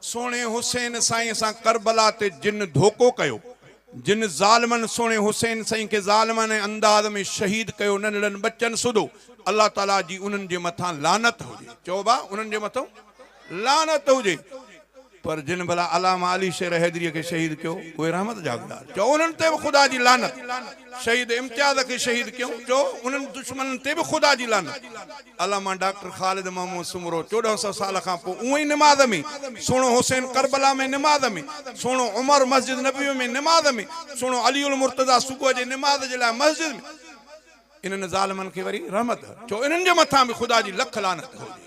سهڻي حسين سائين سان ڪربلا تي جن ڌوڪو ڪيو، جن ظالمن سهڻي حسين سائين کي ظالمانه انداز ۾ شهيد ڪيو ننڍڙن ٻچن سوڌو الله تعالي جي انهن جي مٿان لعنت هجي چئو ڀا انهن جي مٿو لعنت هجي پر جن ڀلا علامه علي شير حيدري کي شهيد ڪيو اهي رحمت جا گدار چئو انهن تي به خدا جي لعنت شهيد امتياز کي شهيد ڪيو چئو انهن دشمنن تي به خدا جي لعنت. علامه ڊاڪٽر خالد محمود سومرو چوڏهن سئو سال کان پوء اونهي نماز ۾، سهڻو حسين ڪربلا ۾ نماز ۾، سهڻو عمر مسجد نبوي ۾ نماز ۾، سهڻو علي المرتضيٰ صبح جي نماز جي لاء مسجد ۾. انهن ظالمن کي وري رحمت ڇو، انهن جي مٿان به خدا جي لک لعنت هجي.